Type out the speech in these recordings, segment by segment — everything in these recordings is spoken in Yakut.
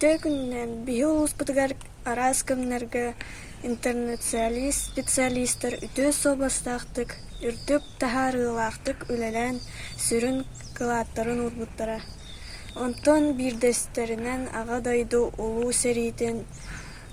Ити күнүнэн биһи улууспутугар араас кэмнэргэ интернет-специалистар үтүө суобастаахтык, үрдүк таһаарыылаахтык үлэлээн сүрүн кылааттарын уурбуттара. Онтон биирдэстэринэн Аҕа дойду Улуу сэриитин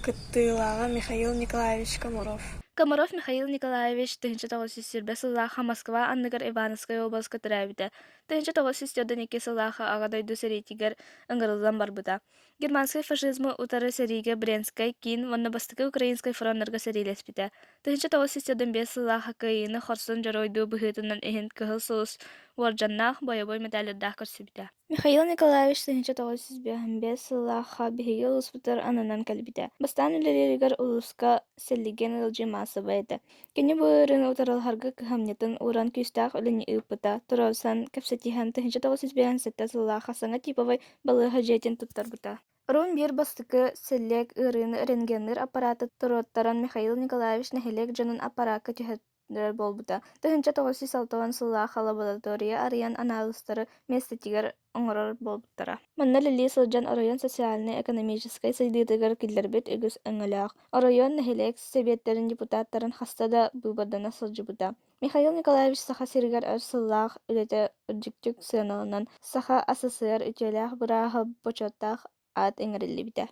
кыттыылааҕа Михаил Николаевич Комаров. Комаров Михаил Николаевич тыһыынча тоҕус сүүс сүүрбэ сыллаах Москва анныгар Ивановскай уобаласка төрөөбүтэ. Тыһынча тоҕус сүүс төрдөн икки сыллааҕы Аҕа дойду сэриитигэр ыҥырыллан барбыта. Германскай фашизмы утары сэриигэ Брянскай киин уонна бастакы украинскай фроннарга сэриилэспитэ. Тыһынча тоҕус сүүс төрдөн биэс сыллааҕы кыайыыны хорсун дьоруойдуу быһыытынан иһин Кыһыл Сулус уордьаннаах бойобуй медалярдаах көрсүбүтэ. Михаил Николаевич тыһынча тоҕус сүүс бэс сыллааҕы биһиги улууспутугар ананан кэлбитэ. Бастаан үлэлииригэр улууска сэллиген ыалдьыы маассабай этэ. Кини бу ыарыыны утары алыһарга кыһамньытын ууран күүстээх үлэни ыыппыта, туруорсан, кэпсэтиһэн, тыһыынча тоҕус жүз биэһэн сэттэ сыллаах Хасана типовай балыыһа дьиэтин туттарбыта. Рун биир бастакы сэллиэк ыарыыны рентгенныыр аппарааты туруоттаран Михаил Николаевич нэһилиэк дьонун аппараакка түһэрэр буолбута. Тыһыынча тоҕус жүз алта уон сыллаах лаборатория арыйан анаалыстары миэстэтигэр оҥорор буолбуттара. Манна үлэлии сылдьан оройуон социальнай-экономическай сайдыытыгар киллэрбит үгүс өҥөлөөх. Оройуон нэһилиэк сэбиэттэрин депутаттарын хаста да быыбардана сылдьыбыта. Михаил Николаевич Саха сиригэр өр сыллаах үлэтэ үрдүктүк сыаналанан, Саха СССР үтүөлээх бырааһа бочуоттаах аат иҥэриллибитэ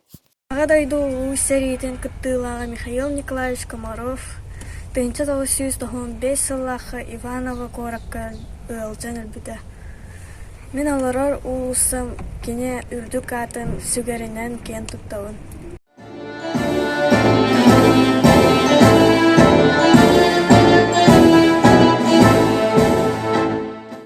Аҕа дойду Улуу сэриитин кыттыылааҕа Михаил Николаевич Комаров тыһыынча тоҕус сүүс тоһуон биэс сыллаахха Иваново куоракка ыалдьан өлбүтэ. Мин олорор уулуссам кини үрдүк аатын сүгэринэн киэн туттабын